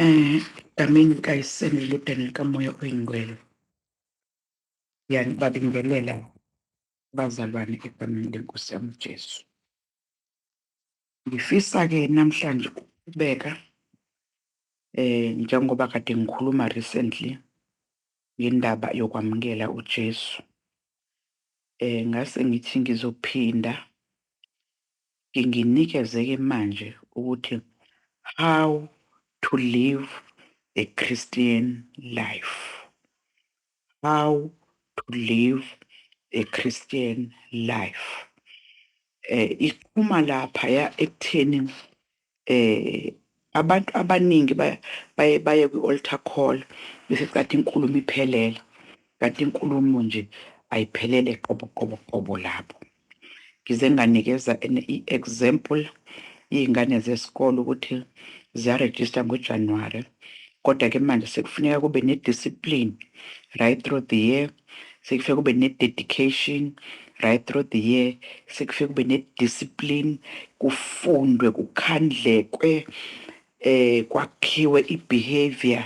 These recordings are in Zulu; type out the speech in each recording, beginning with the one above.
Eh, egameni likayiseni eludeni likamoya oyingcwele ngiyanibabingelela bazalwane egameni lenkosi yami ujesu ngifisa-ke namhlanje ukuqhubeka eh njengoba kade ngikhuluma recently ngendaba yokwamukela ujesu eh ngase ngithi ngizophinda nginginikezeke manje ukuthi how to live the Christian life how to live the Christian life um iqhuma laphaya ekutheni Eh abantu abaningi ba baye baye kwi altar call bese kanti inkulumo iphelela. Kanti inkulumo nje ayiphelele qobo qobo qobo lapho. Ngize nganikeza an i example yezingane zesikole ukuthi ziya register ngo January kodwa ke manje sekufuneka kube ne discipline right through the year sekufike kube ne-dedication right through the year sekufike kube ne-discipline kufundwe kukhandlekwe eh kwakhiwe i-behavior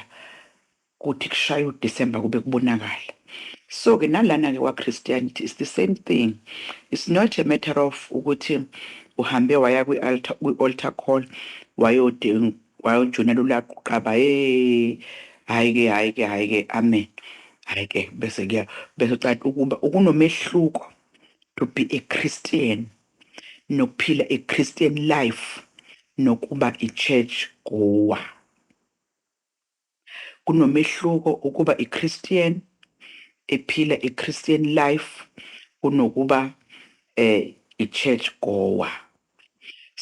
kuthi kushaya uDecember kube kubonakala so ke nalana ke kwaChristianity is the same thing it's not a matter of ukuthi uhambe waya kwi-altar kwi-altar call wayodinga Kwaye uJunior lulaka uqaba hey hayi ke hayi ke hayi ke amen hayi ke bese kuya bese ucaca ukuba ukunomehluko to be a Christian nokuphila a Christian life nokuba i church goer Kunomehluko ukuba iChristian ephila iChristian life kunokuba a ichurch goer.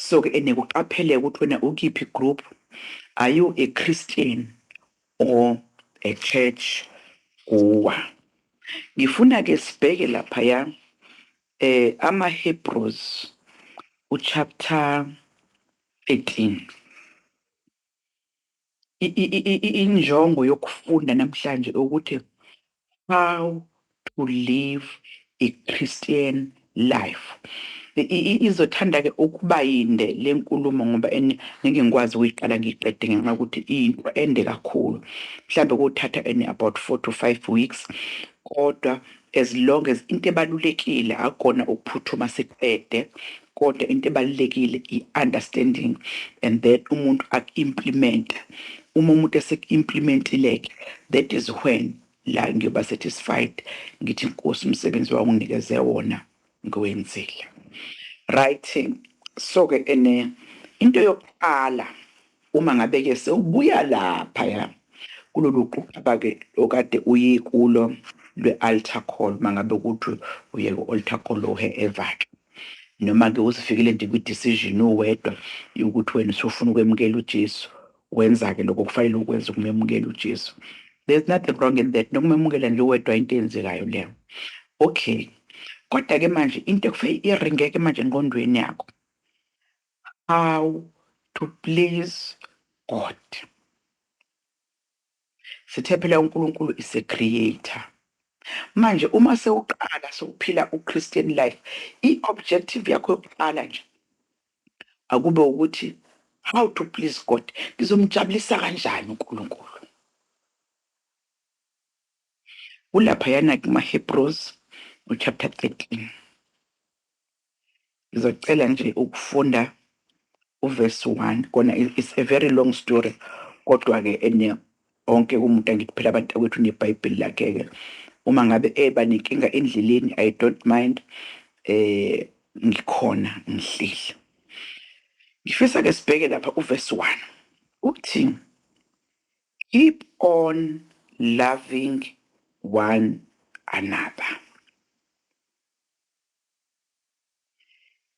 So ke ene kuqapheleka ukuthi wena ukiphi group, are you a Christian or a church goer. Ngifuna ke sibheke laphaya eh amaHebrews uchapter 13. injongo yokufunda namhlanje ukuthi how to live a Christian life izothanda-ke ukuba yinde le nkulumo ngoba ngeke ngikwazi ukuyiqala ngiyiqede ngenxa yokuthi iyinto ende kakhulu mhlawumbe kuthatha and about four to five weeks kodwa as long as into ebalulekile akukona ukuphuthuma siqede kodwa into ebalulekile i-understanding and then umuntu aku-implimenta uma umuntu eseku-implimentile-ke that is when la ngiyoba satisfied ngithi nkosi umsebenzi wawunginikeze wona ngiwenzile right so-ke ene into yokuqala Uma ngabe-ke sewubuya laphaya kulolu quqaba-ke okade uyikulo lwe-altar call, uma ngabe ukuthi uye ku-altar call whoever-ke, noma-ke uzifikile nje kwi-decision uwedwa yokuthi wena usufuna ukwemukela uJesu, wenza-ke lokho okufanele ukwenze ukumemukela uJesu. There's nothing wrong in that, nokumemukela nje uwedwa into eyenzekayo leyo. Okay, kodwa-ke manje into ekufanele iringe-ke manje engqondweni yakho, how to please God. Sithe phela uNkulunkulu is a creator. Manje uma sewuqala sokuphila uChristian life, i-objective yakho yokuqala nje akube ukuthi how to please God. Ngizomjabulisa kanjani uNkulunkulu? Kulaphayana kuma-Hebrews, chapter 13. Ngizocela nje ukufunda uverse 1 kona it's a very long story kodwa ke ene onke umuntu angithi phela abantu akwethu nebhayibheli lakhe ke uma ngabe eba nenkinga endleleni i don't mind eh ngikhona ngihleli ngifisa ke sibheke lapha uverse 1 uthi keep on loving one another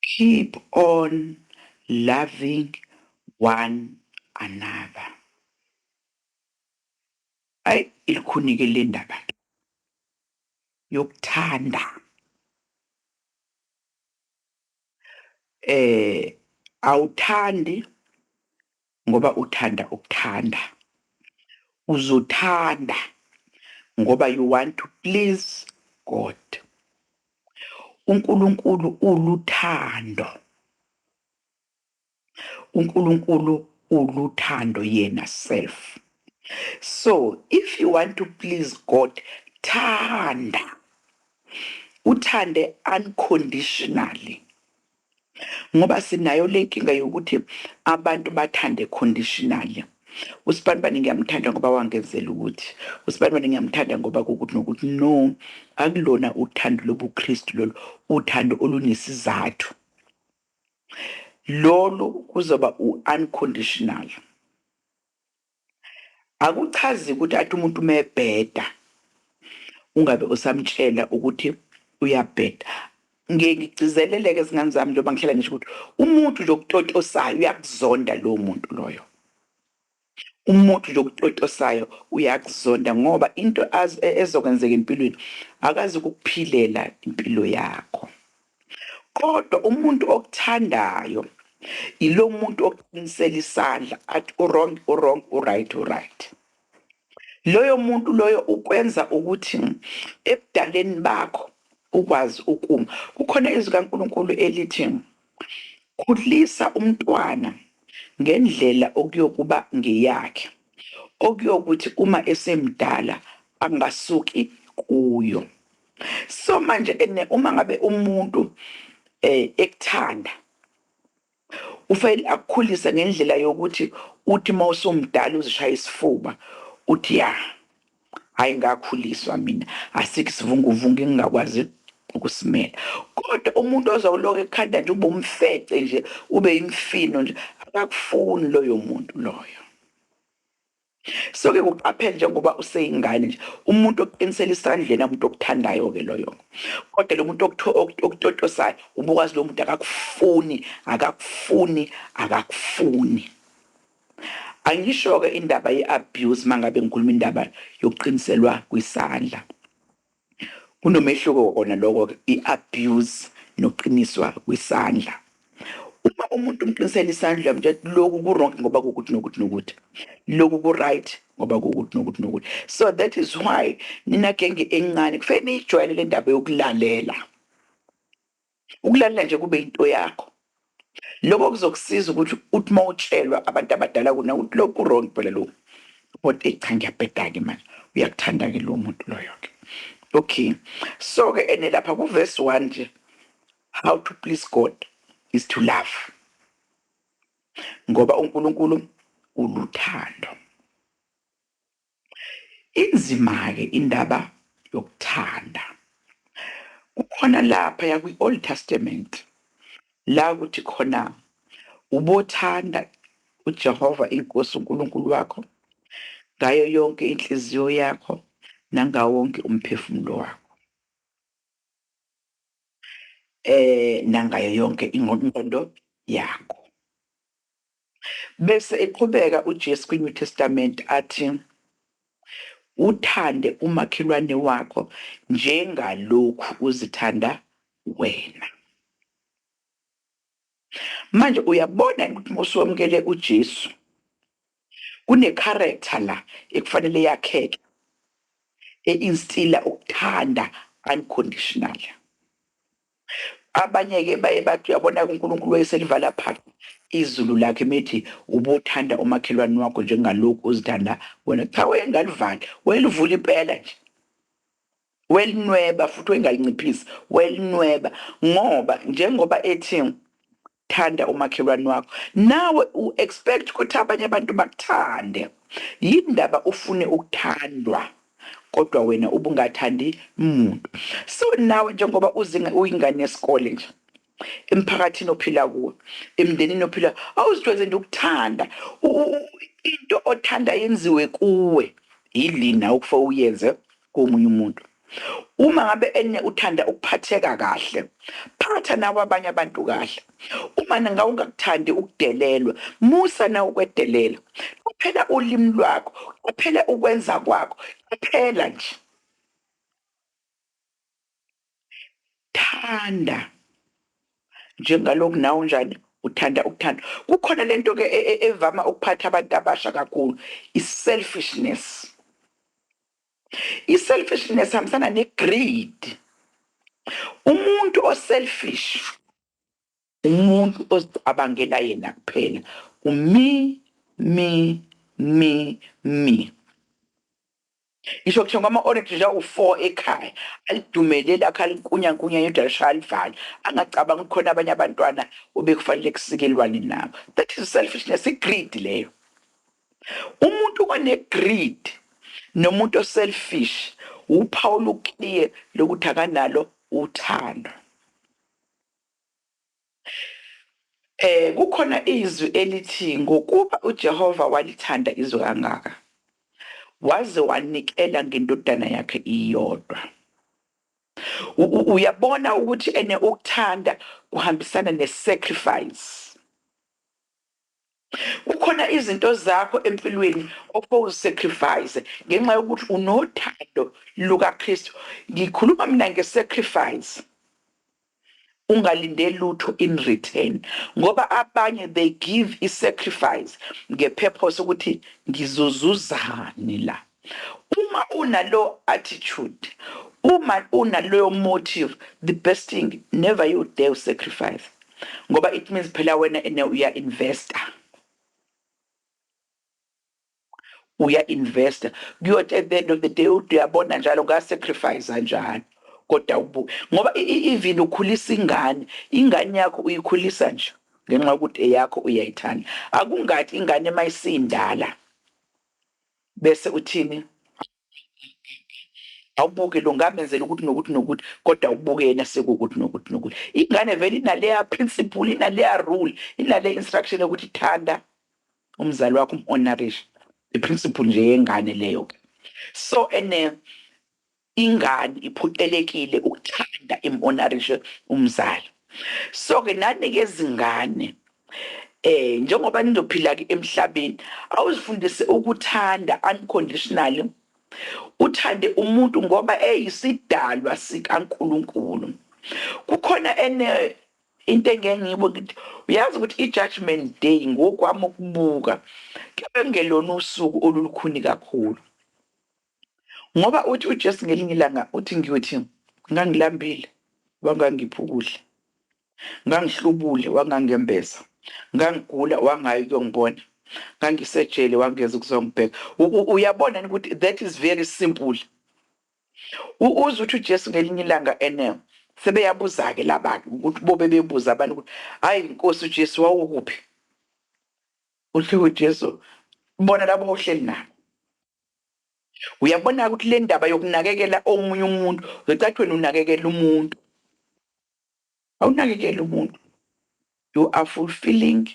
Keep on loving one another. Ay ilukhunike lendaba yokuthanda. Eh awuthandi Ngoba uthanda ukuthanda uzuthanda ngoba you want to please God. UNkulunkulu uluthando. UNkulunkulu uluthando yena self. So if you want to please God, thanda. Uthande unconditionally. Ngoba sinayo lenkinga yokuthi abantu bathande conditionally. Usibanibani ngiyamthanda ngoba wangenzela ukuthi. Usibanibani ngiyamthanda ngoba kokuthi nokuthi no akulona uthando lobuKristu lolu, uthando olunesizathu. Lolu kuzoba u-unconditional. Akuchazi ukuthi athi umuntu uma ebheda ungabe usamtshela ukuthi uyabheda. Ngiye ngigcizelele-ke zingane zami njengoba ngihlala ngisho ukuthi umuntu nje okutotosayo uyakuzonda lowo muntu loyo. Umuntu nje okutotosayo uyakuzonda ngoba into e, ezokwenzeka empilweni akazi ukukuphilela impilo yakho. Kodwa umuntu okuthandayo yilomuntu okuqinisela isandla athi uwrong uwrong uright uright. Loyo muntu loyo ukwenza ukuthi ebudaleni bakho ukwazi ukuma. Kukhona izwi kaNkulunkulu elithi khulisa umntwana ngendlela okuyokuba ngeyakhe, okuyokuthi uma esemdala angasuki kuyo. so manje ke ne uma ngabe umuntu eh ekuthanda ufanele akukhulise ngendlela yokuthi uthi uma usumdala uzishaya isifuba uthi ya hayi ngakhuliswa mina asikho isivunguvungu engingakwazi ukusimela kodwa umuntu ozawuloku ekhanda nje ube umfece nje ube imfino nje akakufuni loyo muntu loyo So ke kuqaphele njengoba useyingane nje umuntu oqinisela isandleni umuntu okuthandayo ke loyo kodwa lo muntu okutotosayo ubukwazi lo muntu akakufuni akakufuni akakufuni angisho ke indaba yeabuse mangabe ngikhuluma indaba yokuqiniselwa kwisandla Kunomehluko kona loko i abuse noqiniswa kwisandla. Uma umuntu umqinisela isandla uyamtshela ukuthi loku ku wrong ngoba kukuthi nokuthi nokuthi. Loku ku right ngoba kukuthi nokuthi nokuthi. So that is why nina genge encane kufeke niyijwayele lendaba yokulalela. Ukulalela nje kube yinto yakho. Lokho kuzokusiza ukuthi uthi uma utshelwa abantu abadala kuna ukuthi lo kurong phela lo. But eyi cha ngiyabheda-ke manje. Uyakuthanda-ke lowo muntu loyo-ke. Okay. So-ke ene lapha kuverse one nje how to please God is to love. Ngoba uNkulunkulu uluthando. Inzima-ke indaba yokuthanda. Kukhona laphaya kwi-Old Testament la ukuthi khona ubothanda uJehova iNkosi uNkulunkulu wakho ngayo yonke inhliziyo yakho nangawo wonke umphefumulo wakho eh nangayo yonke ingqondo yakho Bese eqhubeka uJesu kwiNew Testament athi, Uthande umakhelwane wakho njengalokhu uzithanda wena. Manje uyabona yini ukuthi uma usuwamukele uJesu kune-character la ekufanele yakheke, e-instiller ukuthanda unconditionally. Abanye ke baye bathi uyabona ke uNkulunkulu wayeselivala phansi izulu lakhe methi ubuthanda umakhelwane wakho njengalokhu uzithanda wena. Cha wayengalivali, wayelivula impela nje. Welinweba futhi wayengalinciphisi, wayelinweba ngoba njengoba ethi Thanda umakhelwane wakho nawe u expect ukuthi abanye abantu bakuthande yini ndaba ufune ukuthandwa kodwa wena ubungathandi muntu so nawe njengoba uzinga uyingane yesikole nje emphakathini ophila kuwo emndenini ophila awuzijwayeze nje ukuthanda into othanda yenziwe kuwe yilina okufa uyenze komunye umuntu. Uma ngabe ene uthanda ukuphatheka kahle, phatha nawe abanye abantu kahle. Uma ngabe ungakuthandi ukudelelwa, musa nawe ukwedelela. Qaphela ulimi lwakho, qaphela ukwenza kwakho, qaphela nje. Thanda njengalokhu nawe unjani uthanda ukuthanda kukhona lento ke e, e, evama ukuphatha abantu abasha kakhulu i-selfishness i-selfishness hambisana ne-greed umuntu oselfish Umuntu ozicabangela yena kuphela u me me me me. Ngisho kuthenga ama orange nje awu four ekhaya alidume leli akhe alinkunya nkunya yedwa lishaya alivale angacabangi ukuthi khona abanye abantwana obekufanele kusikelwane nabo that is selfishness i greed leyo. Umuntu one greed nomuntu o selfish wuphawu oluclear lokuthi akanalo uthando. Eh, kukhona izwi elithi ngokuba uJehova walithanda izwe kangaka, waze wanikela ngendodana yakhe iyodwa. U- u- Uyabona ukuthi ene ukuthanda kuhambisana ne-sacrifice. Kukhona izinto zakho empilweni ofowuzisacrifice ngenxa yokuthi unothando lukaKristu. Ngikhuluma mina ngesacrifice, ungalindeli lutho in return ngoba abanye they give isacrifice ngepurpose ukuthi ngizozuzani la. Uma unalo attitude, uma unaloyo motive, the best thing never you dare u sacrifice ngoba it means phela wena ene uya investor. Uya investor kuyothi at the end of the day uthi uyabona njalo nga sacrifice njalo kodwa ubu ngoba even ukhulisa ingane, ingane yakho uyikhulisa nje ngenxa yokuthi eyakho uyayithanda. Akungathi ingane mayisindala. Bese uthini? awubuke lo ngamenzela ukuthi nokuthi nokuthi kodwa ubuke yena sekuwukuthi nokuthi nokuthi ingane vele inaleya principle inaleya rule inale instruction yokuthi thanda umzali wakho umhonorishe iprinciple nje yengane leyo ke so ene Ingani iphuqelekile ukuthanda imhonarishe umzali. So ke nani ke zingane eh njengoba nizophila ke emhlabeni awuzifundise ukuthanda unconditionally uthande umuntu ngoba eyisidalwa sikaNkulunkulu. Kukhona ene into engeke ngiyibo ngithi uyazi ukuthi i-judgment day ngokwami ukubuka kebe kungelona usuku olulukhuni kakhulu Ngoba uthi uJesu ngelinye ilanga uthi ngiyothi ngangilambile wangangipha ukudla, ngangihlubule wangangembeza, ngangigula wangayi ukuyongibona, ngangisejele wangeza ukuzongibheka. Uyabona yini ukuthi that is very simple. Uze uthi uJesu ngelinye ilanga ene sebeyabuza-ke laba-ke ukuthi bobe bebuza abantu ukuthi hayi Nkosi uJesu wawukuphi? Uthi uJesu bona labo ohleli nabo. Uyabona-ke ukuthi le ndaba yokunakekela omunye umuntu uzocathi wena unakekela umuntu. Awunakekeli umuntu. You are fulfilling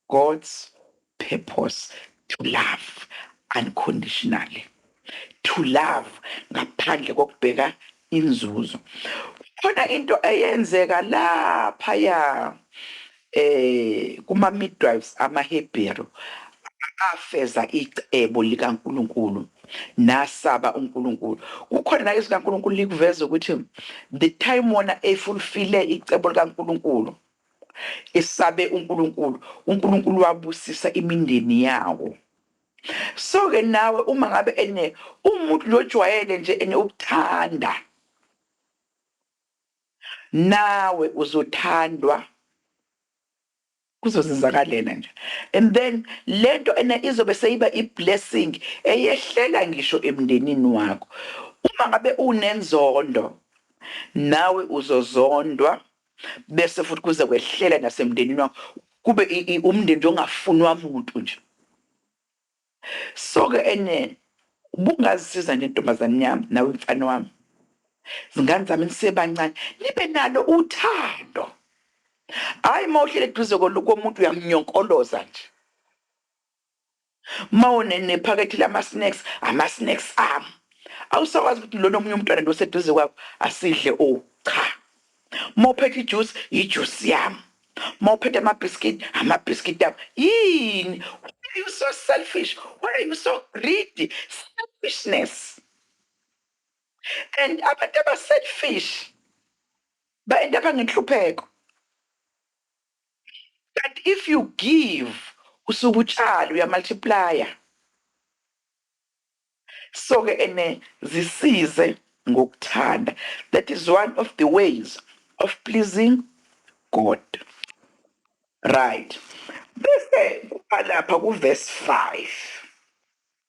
God's purpose to love unconditionally. To love ngaphandle kokubheka inzuzo kukhona into eyenzeka laphaya eh kuma midwives amaHebheru afeza icebo likaNkuluNkulu nasaba uNkuluNkulu kukhona la izikaNkuluNkulu likuveza ukuthi the time wona efulfile icebo likaNkuluNkulu esabe uNkuluNkulu uNkuluNkulu wabusisa imindeni yawo So ke nawe uma ngabe ene umuntu lojwayele nje ene ukuthanda nawe uzothandwa kuzozenzakalela nje and then lento ena izobe seyiba iblessing eyehlela ngisho emndenini wakho uma ngabe unenzondo nawe uzozondwa bese futhi kuze kwehlele nasemndenini wakho kube umndeni nje ongafunwa muntu nje soke enene ubungazisiza nje ntombazane yami nawe mfana wami zingane zami nisebancane nibe nalo uthando hayi uma uhlele eduze komuntu uyamunyonkoloza nje Uma une nephakethe lama snacks, ama snacks ami. Awusakwazi ukuthi lona omunye umntwana lo oseduze kwakho asidle o cha. Uma uphethe ijuice, yijuice yami. Uma uphethe ama biscuit, ama biscuit ami. Yini? Why are you so selfish? Why are you so greedy? Selfishness. And abantu aba selfish ba end up ngenhlupheko. Kanti if you give usuke utshala uya multiplier so ke ene zisize ngokuthanda that is one of the ways of pleasing God right bese kuba lapha ku verse 5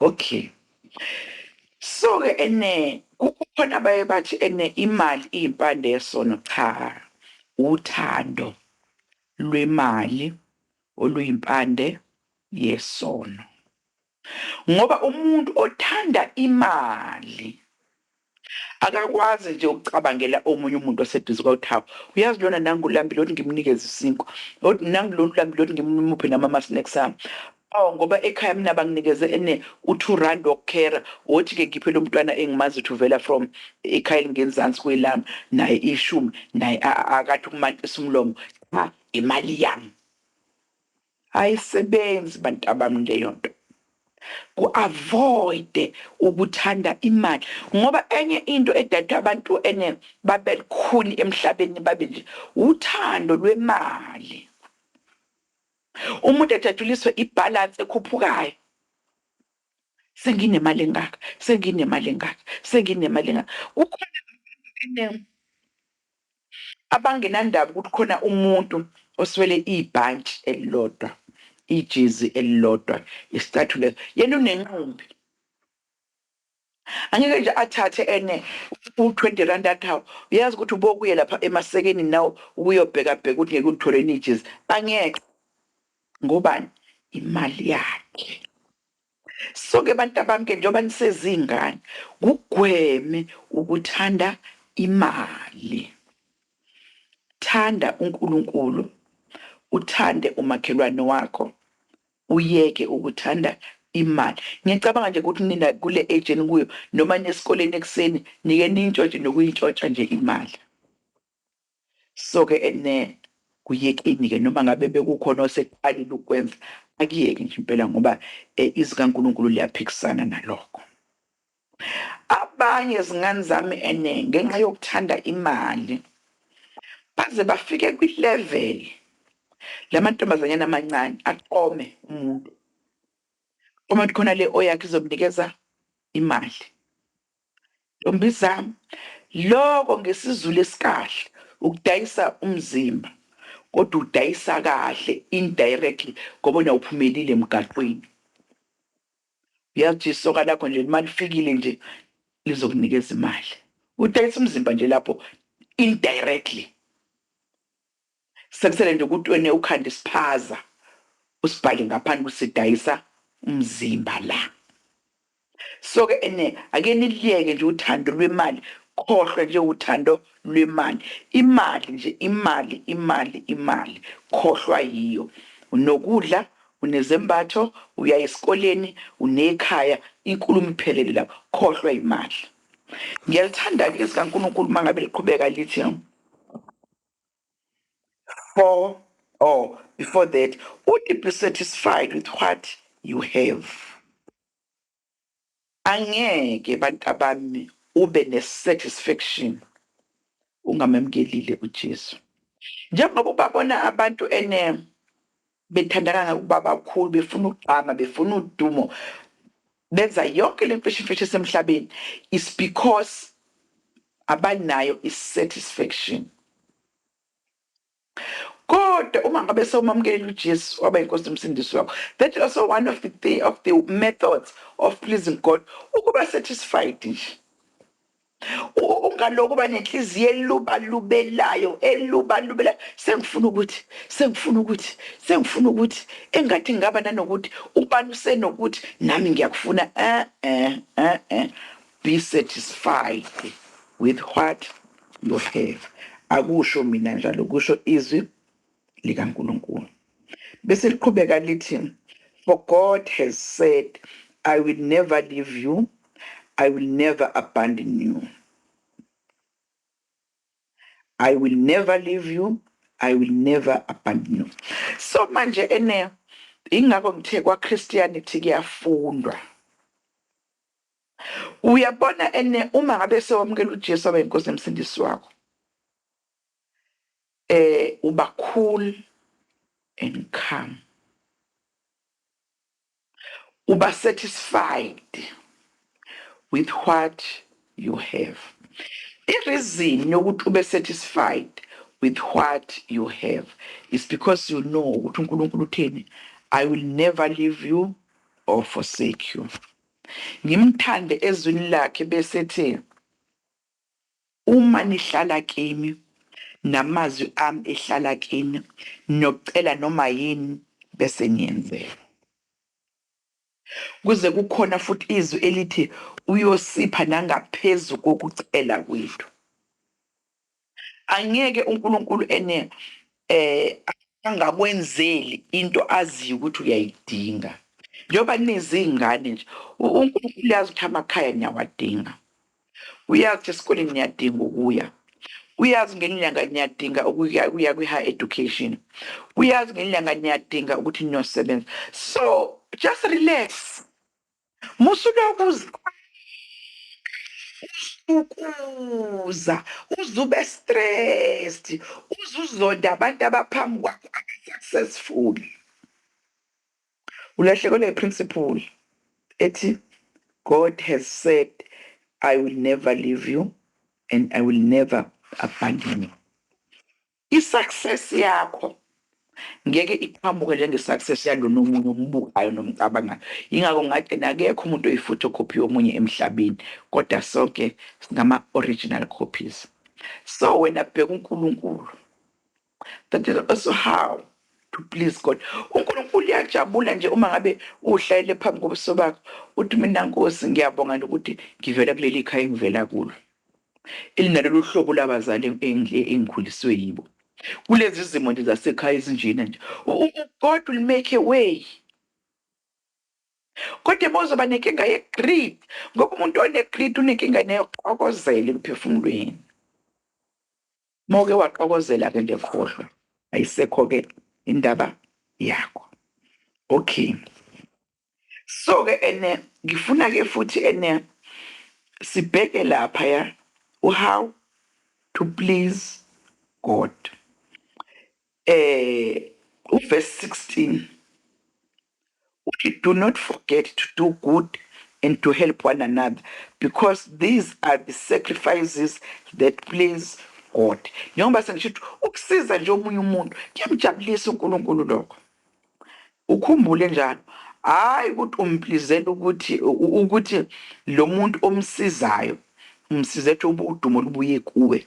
Okay. So ke ene kukhona abaye bathi ene imali iyimpande yesono cha uthando lwemali oluyimpande yesono. Ngoba umuntu othanda imali Akakwazi nje ukucabangela omunye umuntu oseduze kwawo ukuthi hawu uyazi lona nangu ulambile othi ngimnikeze isinkwa othi nangu lona ulambile othi ngimuphe namama snacks ami awu ngoba ekhaya mina banginikeze ene u-two rand wokukhera wothi-ke ngiphe lo mntwana engimazi ukuthi uvela from ekhaya elingenzansi kwelami naye ishumi naye akathi ukumantisa umlomo cha imali yami Ayisebenzi bantabami leyonto ku avoid ukuthanda imali ngoba enye into edada abantu ene babe lukhuni emhlabeni babe nje uthando lwemali umuntu ejatshuliswe i balance ekhuphukayo senginemali engaka senginemali engaka senginemali engaka kukhona ene Abangenandaba ukuthi khona umuntu oswele ibhantshi elilodwa, ijezi elilodwa, isicathulo, yena unenqumbi. Angeke nje athathe ene u-twenty rand athi hawu uyazi ukuthi ubokuye lapha eMasekeni now ukuyobhekabheka ukuthi ngeke ulithole yini ijezi. Angeke. Ngobani? Imali yakhe. Soke bantabami-ke njengoba nisezingane kugweme ukuthanda imali. Thanda uNkulunkulu, uthande umakhelwane wakho, uyeke ukuthanda imali. Ngiyacabanga nje ukuthi nina kule age enikuyo noma niyesikoleni ekuseni nike niyintshontshe nokuyintshontsha nje imali. So ke ne kuyekeni ke noma ngabe bekukhona oseqalile ukwenza akuyeke nje impela ngoba izwi kaNkulunkulu liyaphikisana nalokho. Abanye zingane zami ene ngenxa yokuthanda imali baze bafike kwi level lamantombazanyana amancane aqome umuntu uma khona le oyakhe izomnikeza imali. Ntombizam loko ngesizulu esikahle ukudayisa umzimba kodwa udayisa kahle indirectly ngoba wena uphumelile emgaqweni. Uyazi ukuthi isoka lakho nje uma lifikile nje lizokunikeza imali. Udayisa umzimba nje lapho indirectly. Sekusele nje ukuthi wena ukhanda isiphaza usibhale ngaphandle ukuthi sidayisa umzimba la. So ke ene ake niliyeke nje uthando lwemali, khohlwa nje uthando lwemali. Imali nje, imali, imali, imali, khohlwa yiyo. Unokudla, unezembatho, uyaya esikoleni, unekhaya, inkulumo iphelele lapho, khohlwa imali. Ngiyalithanda-ke izwi likaNkulunkulu uma ngabe liqhubeka lithi. for or before that would you be satisfied with what you have angeke bantabami ube ne satisfaction ungamemkelile uJesu njengoba ubabona abantu ene Bethanda kangaka ukuba bakhulu, befuna ukugqama, befuna udumo, benza yonke le mfeshimfeshi esemhlabeni is because abanayo i-satisfaction. Kodwa uma ngabe sewumamukela uJesu waba inkosi nomsindisi wakho, that is also one of the, thi- of the methods of pleasing God, ukuba satisfied nje. ungaloku uba nenhliziyo elubalubelayo elubalubelayo sengifuna ukuthi sengifuna ukuthi sengifuna ukuthi engathi ngingaba nanokuthi ubani usenokuthi nami ngiyakufuna eh eh eh eh be satisfied with what you have akusho mina njalo kusho izwi likaNkulunkulu. Bese liqhubeka lithi, For God has said, I will never leave you, I will never abandon you. I will never leave you, I will never abandon you. So manje ene ingakho ngithe kwa Christianity kuyafundwa. Uyabona ene uma ngabe sewamukela uJesu abe inkosi emsindisi wakho. eh uba cool and calm uba satisfied with what you have ireason yokuthi ube satisfied with what you have is because you know ukuthi uNkulunkulu uthini I will never leave you or forsake you ngimthande ezwini lakhe bese ethi Uma nihlala kimi, namazwi ami ehlala kini, niyocela noma yini, bese niyenzelwa. Kuze kukhona futhi izwi elithi uyosipha nangaphezu kokucela kwethu. Angeke uNkulunkulu ene angakwenzeli into aziyo ukuthi uyayidinga. Njengoba nizingane nje, uNkulunkulu uyazi ukuthi amakhaya niyawadinga. Uyazi ukuthi esikoleni niyadinga ukuya. Uyazi ngenye inyanga niyadinga ukuya ukuya kwi-high education. Uyazi ngenye inyanga niyadinga ukuthi niyosebenza. So just relax. Musa ulokhu uziqhwaya uzibukuza, uze ube stressed, uze uzonde abantu abaphambi kwakho aba-successful. Ulahlekelwe yi principle ethi God has said I will never leave you and I will never abandon you. I success yakho ngeke iqhamuke njenge success yalona omunye ombukayo nomcabangayo ingakho ngathi nakekho umuntu oyifutho copy yomunye emhlabeni kodwa sonke singama original copies so wena bheka uNkulunkulu That is also how to please God. UNkulunkulu uyajabula nje uma ngabe uhlayele phambi kobuso bakho uthi mina Nkosi ngiyabonga nje ukuthi ngivela kuleli khaya engivela kulo elinalolu hlobo labazali engi- engikhuliswe yibo kulezi zimo nje zasekhaya ezinjena nje U- u- u- God will make a way kodwa bozoba nenkinga ye-greed ngoba umuntu one-greed unenkinga neyokuxokozela emphefumulweni Uma uke waxokozela ke nje khohlwa ayisekho ke indaba yakho okay so ke ene ngifuna ke futhi ene sibheke lapha ya how to please God eh, uverse 16 uthi do not forget to do good and to help one another because these are the sacrifices that please God. Njengoba sengisho ukuthi ukusiza nje omunye umuntu kuyamjabulisa uNkulunkulu lokho. Ukhumbule njalo hayi ukuthi umplizela ukuthi ukuthi lo muntu omsizayo umsiza ethi ubudumo lubuye kuwe.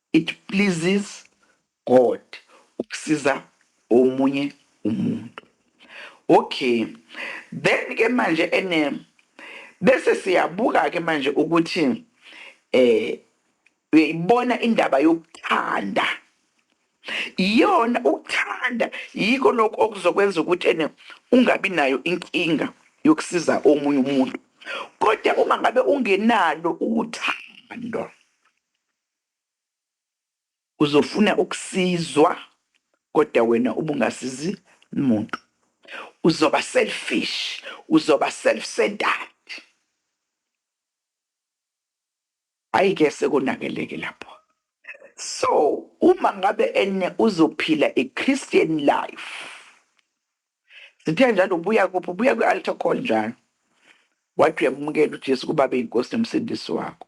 It pleases God ukusiza omunye umuntu. Okay then ke manje ene bese siyabuka ke manje ukuthi eh uyayibona indaba yokuthanda iyona ukuthanda yiko lokho okuzokwenza ukuthi ene ungabi nayo inkinga yokusiza omunye umuntu kodwa uma ngabe ungenalo uthando Uzofuna ukusizwa kodwa wena ubungasizi muntu. Uzoba selfish, uzoba self centered. Ayi ke sekonakeleke lapho. So uma ngabe ene uzophila i Christian life. Sithe njalo ubuya kuphi ubuya kwi altar call njalo. Wathi uyamukela uJesu kuBaba iNkosi noMsindisi wakho.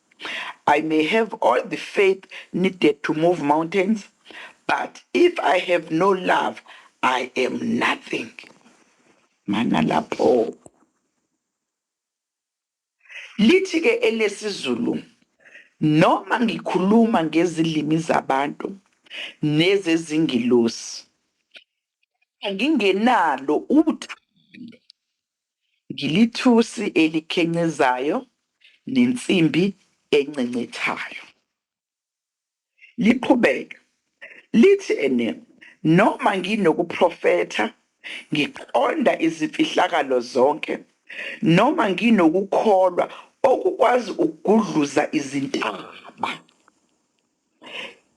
I may have all the faith needed to move mountains, but if I have no love, I am nothing. Mana lapho. Lithi ke elesizulu noma ngikhuluma ngezilimi zabantu nezezingilosi ngingenalo uthando Ngilithusi elikhencezayo nensimbi encencethayo. Liqhubeka, lithi, And noma nginokuprofetha, ngiqonda izimfihlakalo zonke, noma nginokukholwa okukwazi ukugudluza izintaba,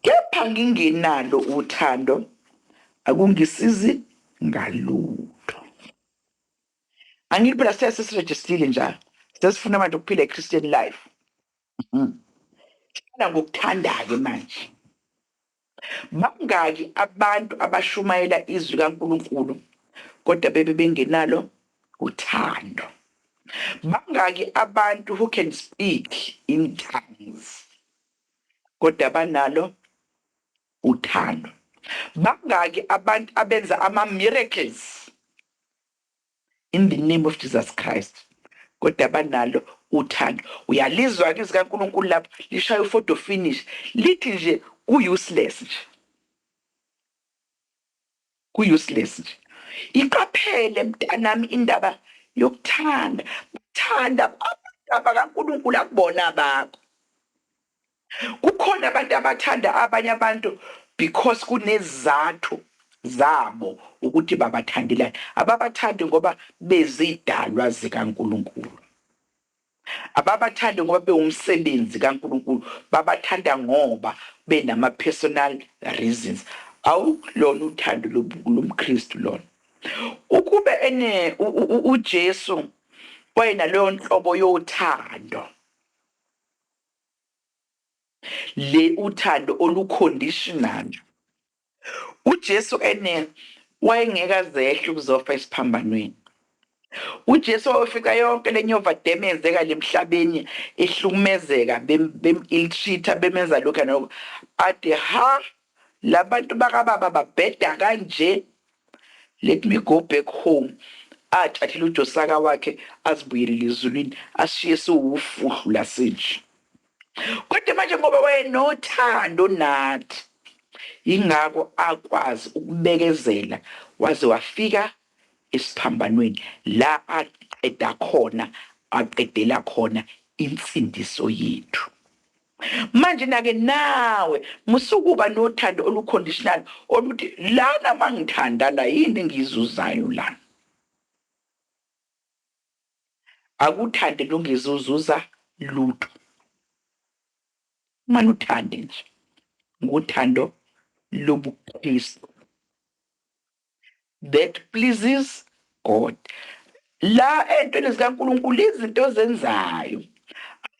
kepha ngingenalo uthando, akungisizi ngalutho. Angithi phela siya sesirejistile njalo. Sesifuna manje ukuphila iChristian life. Mhm. Siphila ngokuthandayo manje. Bangaki abantu abashumayela izwi kaNkulunkulu kodwa bebe bengenalo uthando? Bangaki abantu who can speak in tongues kodwa banalo Uthando. Bangaki abantu abenza ama miracles in the name of Jesus Christ kodwa banalo uthando. Uyalizwa ke zika Nkulunkulu lapho lishaya u photo finish lithi nje ku useless nje. Ku useless nje. Yiqaphele mtanami indaba yokuthanda bathanda abantu abakaNkulunkulu akubona abakho. Kukhona abantu abathanda abanye abantu because kunezizathu zabo ukuthi babathandelani. Ababathandi ngoba bezidalwa zikaNkulunkulu. Ababathandi ngoba bewumsebenzi kaNkulunkulu, babathanda ngoba benama personal reasons. Awulona uthando lomKristu lona. Ukube ene uJesu wayenaleyo nhlobo yothando, le uthando olu conditional. UJesu enel wayengeke azehle ukuzofa esiphambanweni. UJesu wayofica yonke le nyovadem eyenzeka le mhlabeni ihlukumezeka, bem, bem-ill-treat-a, bemenza lokhu nalokhu. Athi, Ha! La bantu bakababa babheda kanje? Let me go back home. Athathele uJosaka wakhe azibuyelele ezulwini, asishiye siwufuhlu la sinje. Kodwa manje ngoba wayenothando nathi, yingakho akwazi ukubekezela waze wafika esiphambanweni la aqeda khona, aqedela khona insindiso yethu. Manje nake nawe musukuba nothando olu-conditional oluthi lana mangithanda la yini engiyizuzayo lana. akuthande lungizuzuza luto uma luthande nje nguthando lobu Kristu that pleases God la entweni zika Nkulunkulu izinto ozenzayo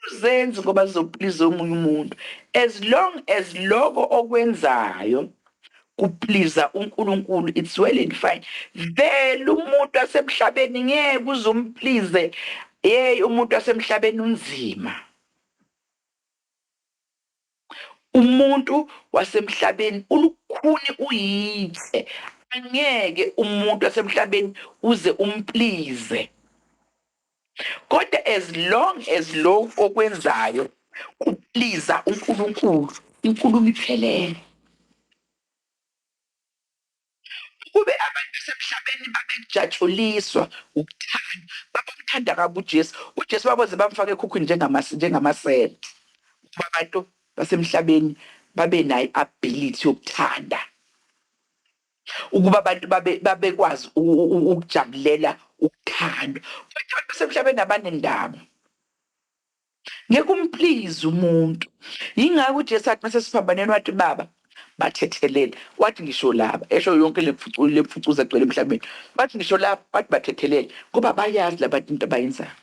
awuzenzi ngoba zizopliza omunye umuntu as long as loko okwenzayo kupliza uNkulunkulu it's well and fine vele umuntu asemhlabeni ngeke uze umplize hey umuntu asemhlabeni unzima umuntu wasemhlabeni ulukhuni uyithe angeke umuntu wasemhlabeni uze umplize Kodwa as long as lokhu okwenzayo kupliza uNkulunkulu, inkulumo iphelele. Ukube abantu basemhlabeni babekujatshuliswa ukuthandwa, babemthanda kabi uJesu, uJesu baboze bamfaka ekhukhwini njengamasi, njengamasela. Ukuba abantu basemhlabeni babenayo i-ability yokuthanda. ukuba abantu babe babekwazi u- u- u- ukujabulela ukuthandwa futhi abantu basemhlabeni abanendaba ngeke umplize umuntu yingakho ujesu athi mase siphambaneni wathi baba bathethelele wathi ngisho laba esho yonke le mfucu- le mfucuza egcwele emhlabeni wathi ngisho laba wathi bathethelele ngoba bayazi labantu into abayenzayo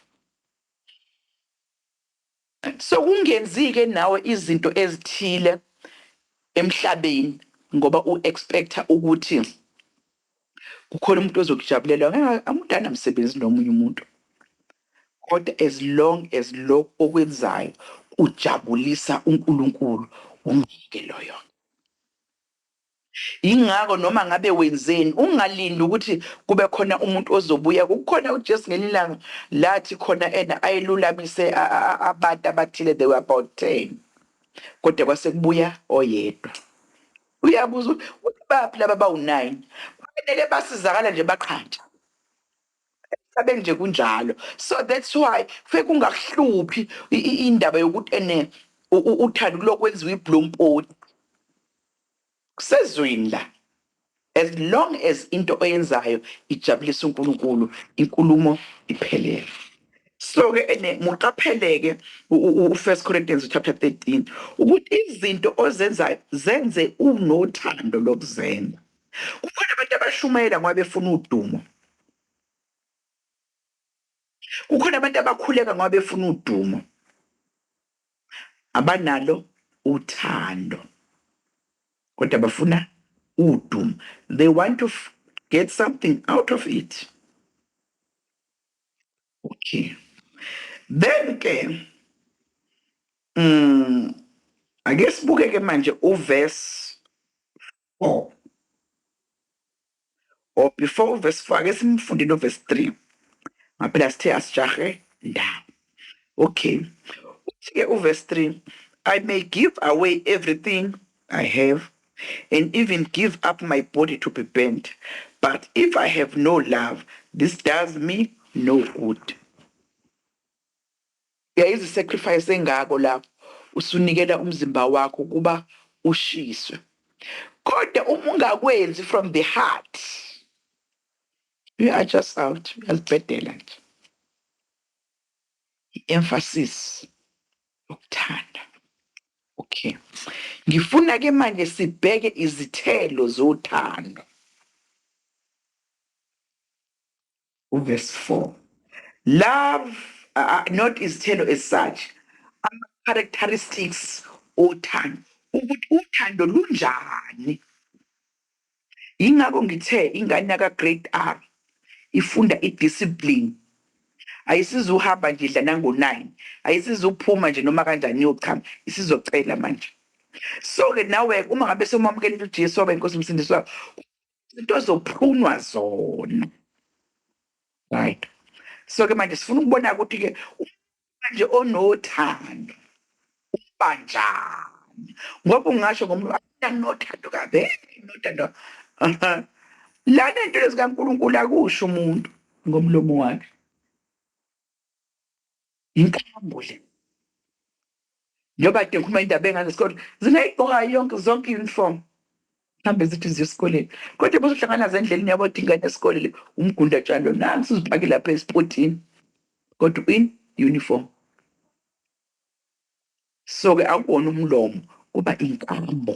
Sekungenzike nawe izinto ezithile emhlabeni ngoba u expecta ukuthi kukhona umuntu ozokujabulela ngeke umuntu anamsebenzi nomunye umuntu kodwa as long as lokho okwenzayo kujabulisa uNkulunkulu umyeke loyo. Yingakho noma ngabe wenzeni, ungalindi ukuthi kube khona umuntu ozobuya. Kukhona uJesu ngelinye ilanga lathi khona ena ayelulamise abantu abathile, they were about 10. Kodwa kwase kubuya oyedwa. Uyabuza ukuthi baphi laba bawu-9? Kufanele basizakala nje baqhatsha. Emhlabeni nje kunjalo. So that's why kufe kungakuhluphi indaba yokuthi ene uthanda ukulokwenziwa ibhlompoti. Kusezweni la as long as into oyenzayo ijabulisa uNkulunkulu inkulumo iphelele. So ke ene muqapheleke u First Corinthians chapter 13 ukuthi izinto ozenzayo zenze unothando lokuzenza. Kukhona abantu abashumayela ngoba befuna udumo. Kukhona abantu abakhuleka ngoba befuna udumo. Abanalo uthando kodwa bafuna udumo. They want to get something out of it. Okay. Then ke mm ake sibuke ke manje uverse 4 or before verse 4 ake simfunde no verse 3 ngaphela sithe asijahe ndawo okay uthi ke uverse 3 i may give away everything i have and even give up my body to be burnt but if i have no love this does me no good Yayizi sacrifice engako la usunikela umzimba wakho ukuba ushiswe kodwa uma ungakwenzi from the heart you are just out uyazibhedela nje. I emphasis yokuthanda. Okay. Ngifuna ke manje sibheke izithelo zothando. uverse 4 love uh, uh, not izithelo as such ama-characteristics othando ukuthi uthando lunjani yingakho ngithe ingane yaka-grade r ifunda i-discipline ayisizuhamba nje idla nango-nine ayisizuphuma nje noma kanjani iyochama isizocela manje so-ke nawe uma ngabe somwamukelela ujesu waba inkosi umsindisi wakho into ezophunwa zona right so ke manje sifuna ukubona ukuthi ke manje onothando uba njani ngoba ungasho ngomuntu anothando kabe nothando lana into lezikaNkulunkulu akusho umuntu ngomlomo wakhe inkambo le njengoba kade ngikhuluma indaba engane esikoleni zingayigqoka yonke zonke i-uniform mhlawumbe zithi ziye esikoleni kodwa bozohlangana nazo endleleni yabo thi ingane yesikole le umgundatshani lo nansi uzipake lapha esipothini kodwa in uniform so-ke akuwona umlomo kuba inkambo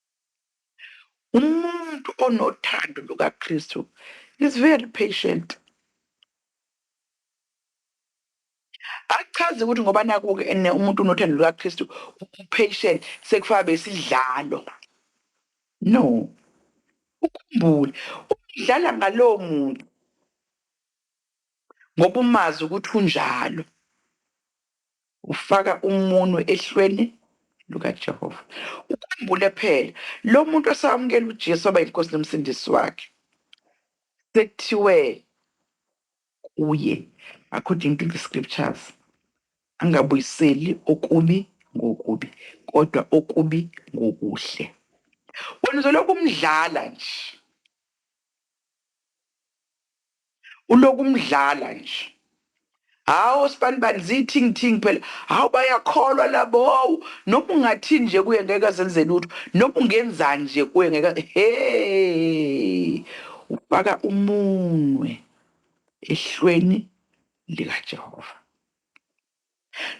Umuntu onothando lukaKristu is very patient. Akuchazi ukuthi ngoba naku-ke ene umuntu unothando lukaKristu u-patient sekufaka besidlalo. No. Ukhumbule, udlala ngalowo muntu ngoba umazi ukuthi unjalo. Ufaka umunwe ehlweni lukaJehova. Ukhumbule phela, lo muntu osawamukela uJesu waba yiNkosi noMsindisi wakhe, sekuthiwe kuye, according to the scriptures, angabuyiseli okubi ngokubi, kodwa okubi ngokuhle. Wena uzolokhu umdlala nje. uloku umdlala nje hawu sibanibani ziyithing thing phela hawu bayakholwa labo hawu noma ungathini nje kuye ngeke azenze lutho noma ungenzani nje kuye ngeke hey ufaka umunwe ehlweni likaJehova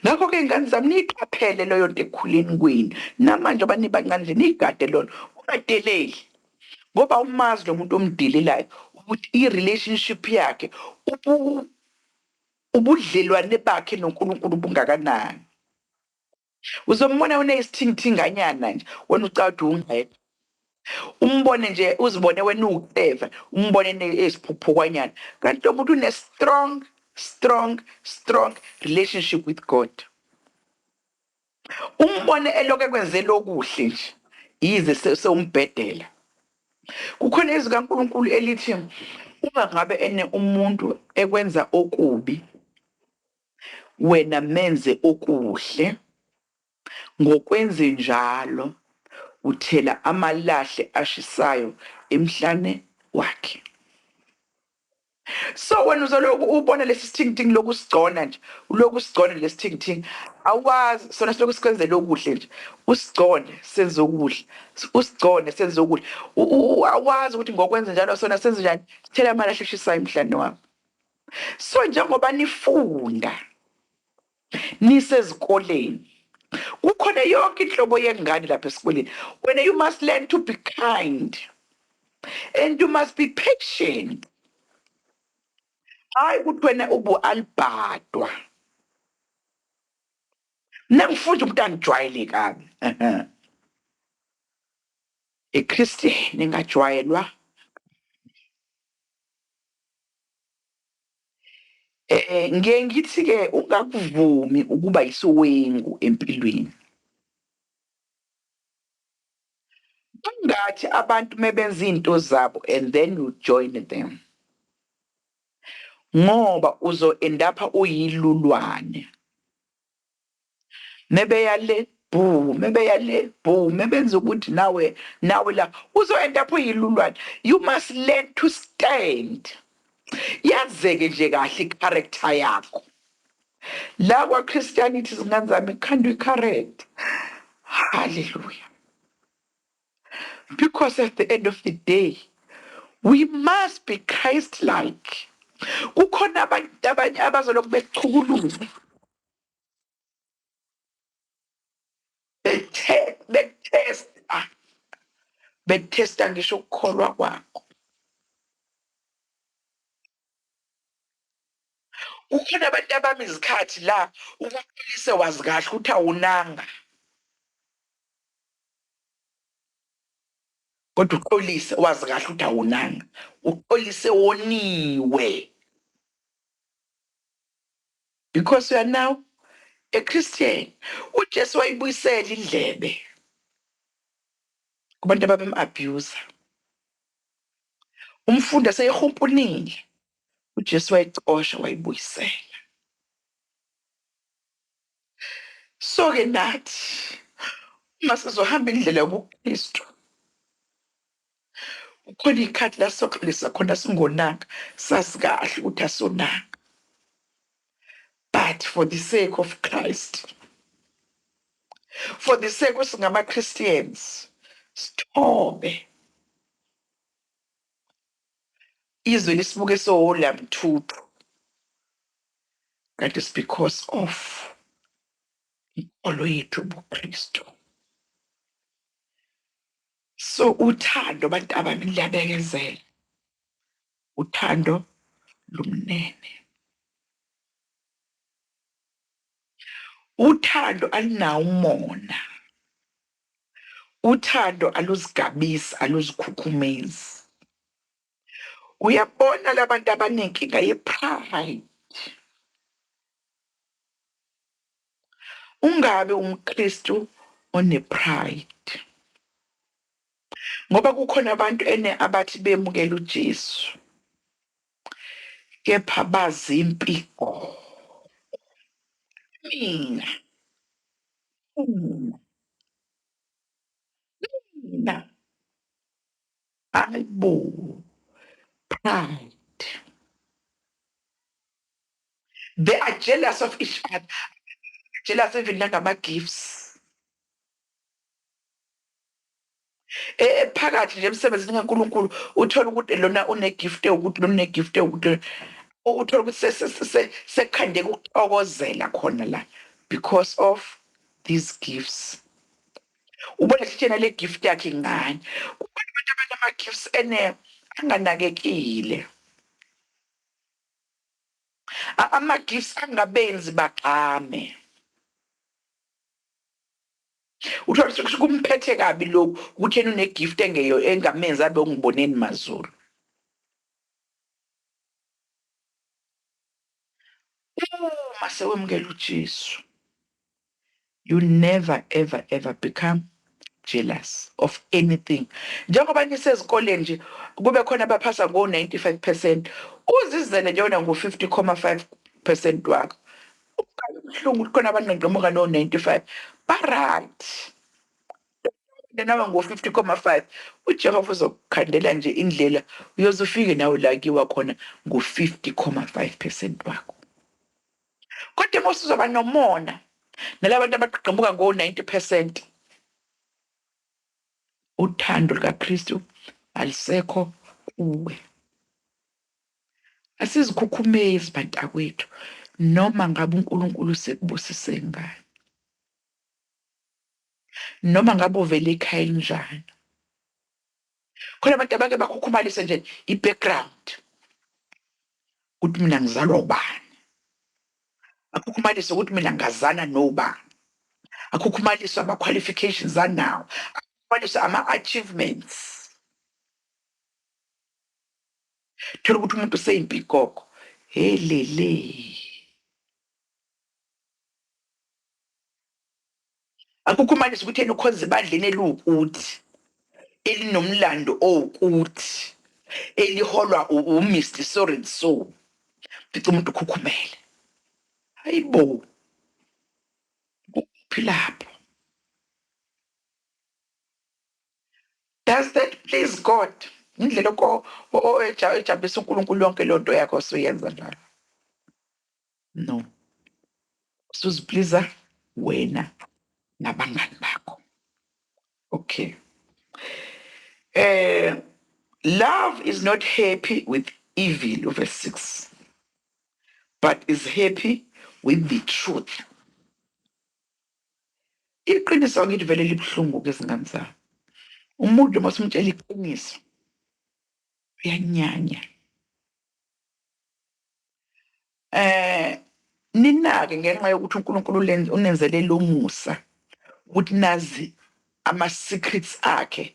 Ngakho-ke, ngane zami, niyiqaphele leyo nto ekukhuleni kwenu, namanje njengoba nibancane nje, niyigade lona, ungadeleli. Ngoba awumazi lo muntu omdelelayo ukuthi i-relationship yakhe, ubudlelwane bakhe noNkulunkulu bungakanani. uzombona unesithingithinganyana nje wena ucawuthi ungqeda umbone nje uzibone wena uwucleva umbone eziphuphukwanyana kanti lo muntu une-strong strong strong relationship with god umbone eloku ekwenzela okuhle nje yize sewumbhedela kukhona izwi kankulunkulu elithi uma ngabe ene umuntu ekwenza okubi wena menze okuhle, ngokwenzenjalo uthela amalahle ashisayo emhlane wakhe. So wena uzoloku ubona lesi sithingithingi loku sigcona nje, uloku sigcona lesi thingithingi, awazi sona siloku sikwenzela okuhle nje, usigcone senze okuhle, usigcone senze okuhle, awazi ukuthi ngokwenzenjalo sona senze njani, sithela amalahle ashisayo emhlane wakho. So njengoba nifunda nisezikoleni kukhona yonke inhlobo yengane lapha esikoleni. Wena you must learn to be kind and you must be patient. Hayi ukuthi wena ubu alibhadwa. Mina ngifunda umuntu angijwayele kabi. IChristian engajwayelwa Eh ngiye ngithi ke ungakuvumi ukuba isiwengu empilweni. Bangathi abantu mebenza izinto zabo and then you join them. Ngoba uzo endapha uyilulwane. mebeya le bhu mebeya le bhu mebenza ukuthi nawe nawe la uzoyenda apho yilulwane you must learn to stand yazeke nje kahle i-character yakho la kwa-christianity zingane zami kukhandwa i-character halleluya because at the end of the day we must be christ like kukhona abantu abanye abazolokhu bekuchukuluza bethe- betesta betesta ngisho ukukholwa kwakho kukhona abantu abami izikhathi la ubaxolise wazi kahle ukuthi awunanga kodwa uxolise wazi kahle ukuthi awunanga uxolise woniwe because you are now a christian ujesu wayibuyisela indlebe kubantu ababem-abuser Umfundi aseyihumpunile, uJesu wayicosha wayibuyisela. So ke nathi uma sizohamba indlela yobuKristu kukhona ikhathi la soxolisa khona singonanga sazi kahle ukuthi asonanga. but for the sake of Christ for the sake singama Christians sithobe izwe lisibuke sohola mthuthu that is because of inkolo yethu ubuKristu so uthando abantu abami liyabekezela uthando lumnene. Uthando alinawo umona, uthando aluzigabisi, aluzikhukhumezi. Uyabona labantu abanenkinga ye-pride. Ungabe umKristu one-pride. Ngoba kukhona abantu ene abathi bemukela uJesu kepha bazimpi qo. Mina. Mina. Mina. Hayibo. Pride. They are jealous of each other. Jealous even nangama gifts. E- ephakathi nje emsebenzini kaNkulunkulu uthole ukuthi lona unegift ewukuthi lona unegift ewukuthi lona- u- uthole ukuthi se- se- se- se- sekhandeka ukuthokozela khona la because of these gifts ubona sitshena le gift yakhe ngani kukhona abantu abanama-gifts ene anganakekile A- ama-gifts angabenzi bagxame Uthole ukuthi kumphethe kabi lokhu ukuthi yena une gift engeyo engamenzi abe ungiboneni mazulu. Uma sewemukela uJesu you never ever ever become jealous of anything njengoba nisezikoleni nje kube khona abaphasa ngo 95% uzizele nje wena ngo 50,5% wakho Ukukhala ubuhlungu ukuthi khona abanqenqemuka no-95 baright nawe ngo-50,5 ujehova uzokukhandela nje indlela uyoze ufike nawe la kiwa khona ngo-50,5 percent wakho kodwa uma usuzoba nomona nala bantu abaqeqemuka ngo-90 percent uthando lukakristu alisekho kuwe Asizikhukhumezi bantakwethu noma ngabe uNkulunkulu usekubusise ngani. Noma ngabe uvela ekhaya elinjani. Khona abantu abake bakhukhumalise nje i-background. Ukuthi mina ngizalwa ubani. Akhukhumalise ukuthi mina ngazana nobani. Akhukhumalise ama-qualifications anawo. Akhukhumalise ama-achievements. thola ukuthi umuntu useyimpikoko helele akukho umanisi ukuthi yena ukhonza ebandleni eliwukuthi elinomlando owukuthi eliholwa u- umr so and so fica umuntu ukhukhumele hayi bo kuphi lapho Does that please God? Indlela oko ejabulisa uNkulunkulu yonke loo nto yakho osuyenza njalo. No. Usuzipliza wena nabangani bakho. Okay. Eh love is not happy with evil verse 6 but is happy with the truth. Iqiniso angithi vele libuhlungu ke zingane zami. Umuntu uma simtshela iqiniso uyanyanya. Eh ninake ngenxa yokuthi uNkulunkulu ulen- unenzele lo musa ukuthi nazi ama secrets akhe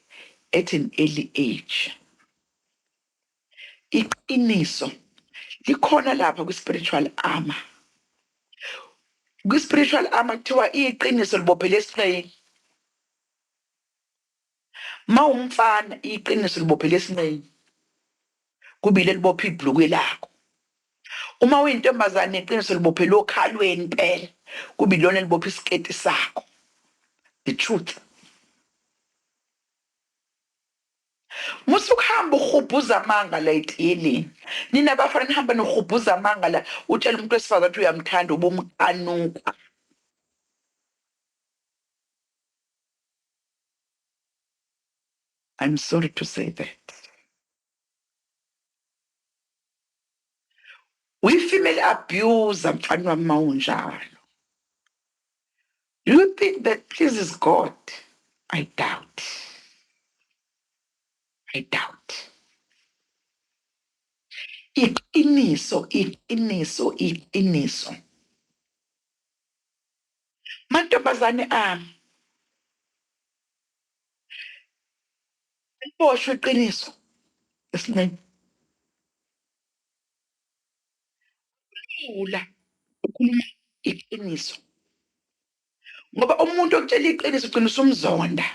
at an early age. Iqiniso likhona lapha kwi spiritual armor. Kwi spiritual armor kuthiwa iqiniso libophele esinqeni. Mawumfana iqiniso libophele esinqeni. Kubile libopha ibhlukwe lakho. Uma uyintombazane iqiniso libophele okhalweni impela. Kuba ilona elibopha isiketi sakho. The truth. Musa ukuhamba urhubhuza amanga la etiyeleni. Nina bafana nihamba nirhubhuza amanga la utshela umuntu wesifazane ukuthi uyamthanda ubumqanuka. I'm sorry to say that. We female abuser mfana wami mawunjalo. Do you think that pleases God? I doubt. I doubt. Iqiniso, iqiniso, iqiniso. Mantombazane ami. Boshwe iqiniso esinqeni. Lula ukhuluma iqiniso. Ngoba umuntu okutshela iqiniso ugcina usumzonda.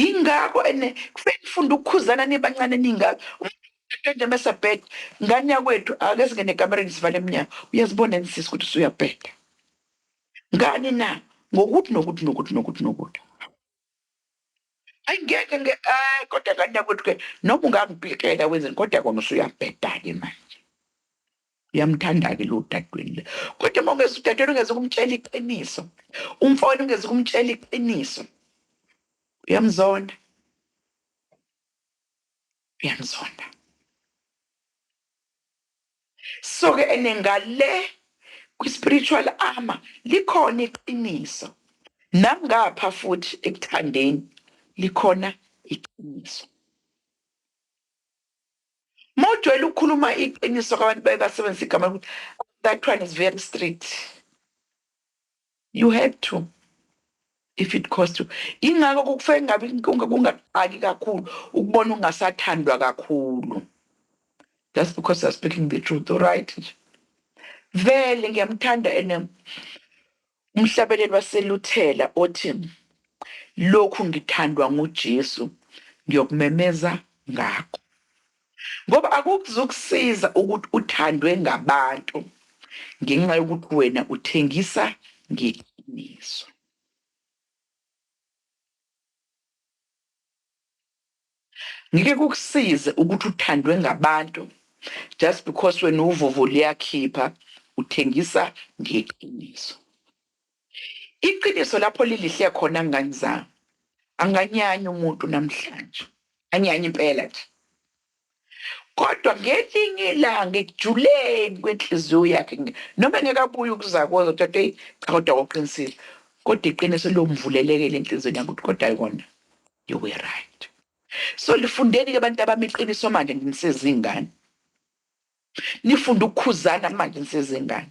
Ingakho ene kufanele nifunde ukukhuzana nibancane ningaka. Umuntu mase bheda ngane yakwethu ake singene ekamereni sivale emnyango. Uyazibona yini sisi ukuthi usuyabheda. ngani na ngokuthi nokuthi nokuthi nokuthi nokuthi ayingeke nge ay kodwa kanti yakwethu ke noma ungangipikela wenzeni kodwa kona usuyabhedake manje uyamthanda-ke lo dadweni le kodwa uma ungeza udadweni ungeze ukumtshela iqiniso umfowenu ungeze ukumtshela iqiniso uyamzonda uyamzonda So ke ene ngale kwi spiritual armor likhona iqiniso nangapha futhi ekuthandeni likhona iqiniso. Mawujwayele ukukhuluma iqiniso kwabantu baye basebenzisa igama lokuthi that one is very strict. You had to if it cost you. Ingakho kukufake ngabe kungaqaki kakhulu ukubona ungasathandwa kakhulu. That's because you're speaking the truth, all right nje. Vele ngiyamthanda ene umhlabeleli waseluthela othi lokhu ngithandwa nguJesu ngiyokumemeza ngakho. Ngoba akuzukusiza ukuthi uthandwe ngabantu ngenxa yokuthi wena uthengisa ngeqiniso. Ngeke kukusize ukuthi uthandwe ngabantu just because wena uvovo liyakhipha uthengisa ngeqiniso. Iqiniso lapho lilihle khona ngani zami anganyanyi umuntu namhlanje anyanyi impela nje kodwa ngelinye ilanga ekujuleni kwenhliziyo yakhe nge- noma engeke abuye ukuzakoza ukuthi athi eyi cha kodwa wawuqinisile kodwa iqiniso liyomvulelekela enhliziyweni yakhe ukuthi kodwa yona you were right so lifundeni-ke abantu abami iqiniso manje nisezingane nifunde ukukhuzana manje nisezingane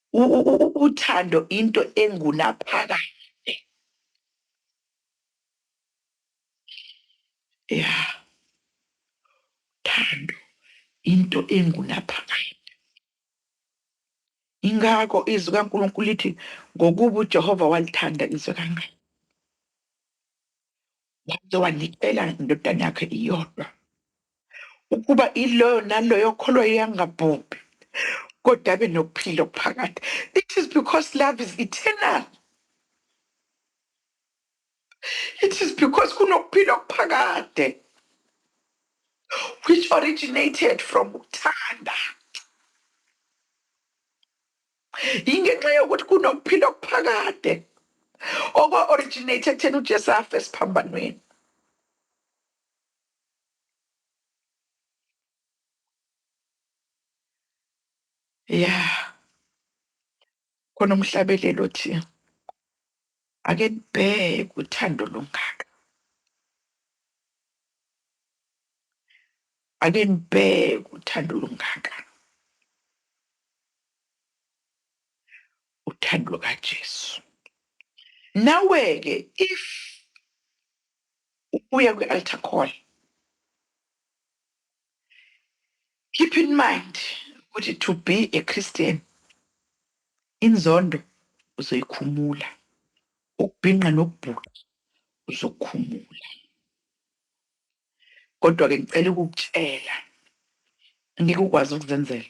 Uthando into engunaphakade. Ya. Uthando into engunaphakade. Ingakho izwi kaNkulunkulu lithi ngokuba uJehova walithanda izwe kangaka. Waze wanikela indodana yakhe iyodwa. ukuba iloyo naloyo kholwa yangabhubhi kodwa abe nokuphila okuphakade it is because love is eternal it is because kunokuphila okuphakade which originated from ukuthanda yingenxa yokuthi kunokuphila okuphakade okwa-originate ekutheni ujesu afe esiphambanweni ya khona umhlabeleli othi ake nibheke uthando lungaka ake nibheke uthando lungaka uthando lukajesu nawe-ke if ubuye kwi-altar call keep in mind ukuthi to be a christian inzondo uzoyikhumula ukubhinqa nokubhuqa uzokhumula kodwa-ke ngicela ukukutshela ngeke ukwazi ukuzenzela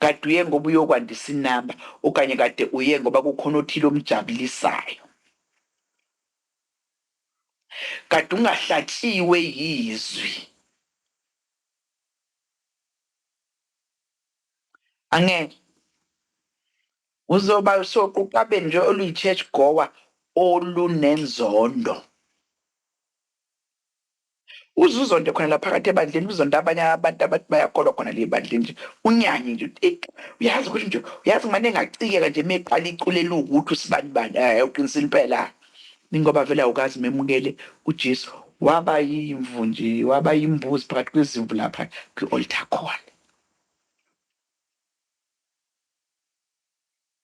Kade uye ngoba uyokwandisa inamba okanye kade uye ngoba kukhona othile omjabulisayo? Kade ungahlatshiwe yizwi? Angeke. Uzoba soquqabeni nje oluyi-church goer olunenzondo. Uze uzonde khona la phakathi ebandleni uzonde abanye abantu abathi bayakholwa khona le bandleni nje unyanye nje ukuthi eyi uyazi ukuthi nje uyazi ngimane ngacikeka nje meqala icule eliwukuthi usibani bani hayi uqinisa impela ningoba vele awukazi memukele uJesu waba yimvu nje waba yimbuzi phakathi kwezimvu lapha kwi-altar call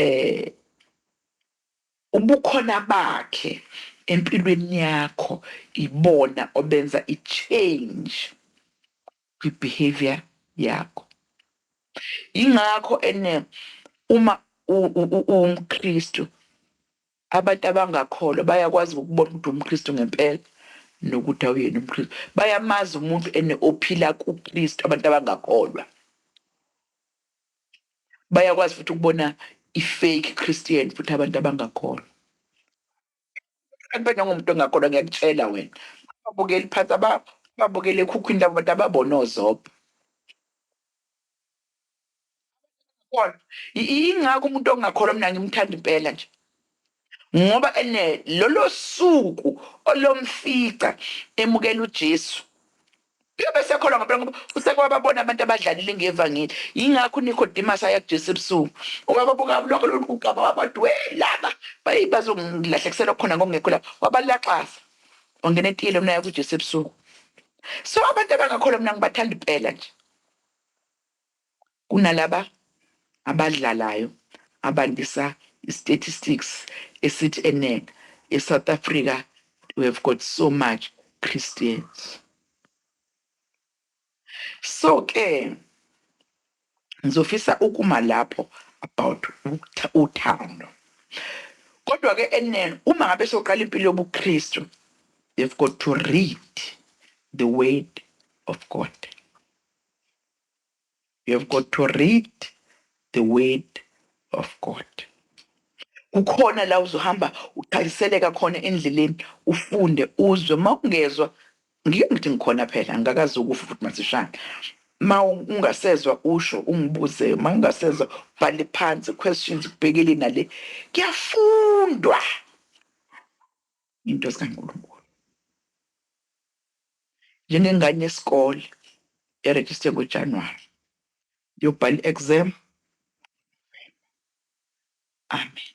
eh ubukhona bakhe empilweni yakho ibona obenza i-change kwi-behavior yakho ingakho ene uma uwumKristu abantu abangakholwa bayakwazi ukubona ukuthi umKristu ngempela nokuthi awuyena umKristu bayamazi umuntu ene ophila kuKristu abantu abangakholwa bayakwazi futhi ukubona i-fake Christian futhi abantu abangakholwa. Akube nangomuntu ongakholwa ngiyakutshela wena. Ababukeli phansi aba babukele ekhukhwini labo bantu ababona ozobha. Kodwa i- ingakho umuntu ongakholwa mina ngimthanda impela nje. Ngoba ene lolo suku olomfica emukela uJesu. Uyobe sekholwa ngempela ngoba usekwababona abantu abadlalile ngevangeli. Yingakho uNicodemus aya kuJesu ebusuku. Wababuka lonke lolu kugaba wabathi we laba bayi bazongilahlekisela khona ngokungekho la. Wabalaxaza. Wangena etiyeleni unaya kuJesu ebusuku. So abantu abangakholwa mina ngibathanda impela nje. Kunalaba abadlalayo abandisa istatistics esithi eningi e South Africa we have got so much Christians. So ke ngizofisa ukuma lapho about uthando. Kodwa ke eningi uma ngabe soqala impilo yobuKristu they've got to read the word of God. You have got to read the word of God. Kukhona la uzohamba uqhaliseleka khona endleleni ufunde uzwe uma ungezwa ngike ngithi ngikhona phela angikakazi ukufa ukuthi masishane ma ungasezwa usho ungibuze ma ungasezwa bhale phansi questions kubhekele nale kuyafundwa Nginto zikaNkulunkulu. Njengengane yesikole erejiste ngoJanuwari, ngiyobhala i-exam Amen.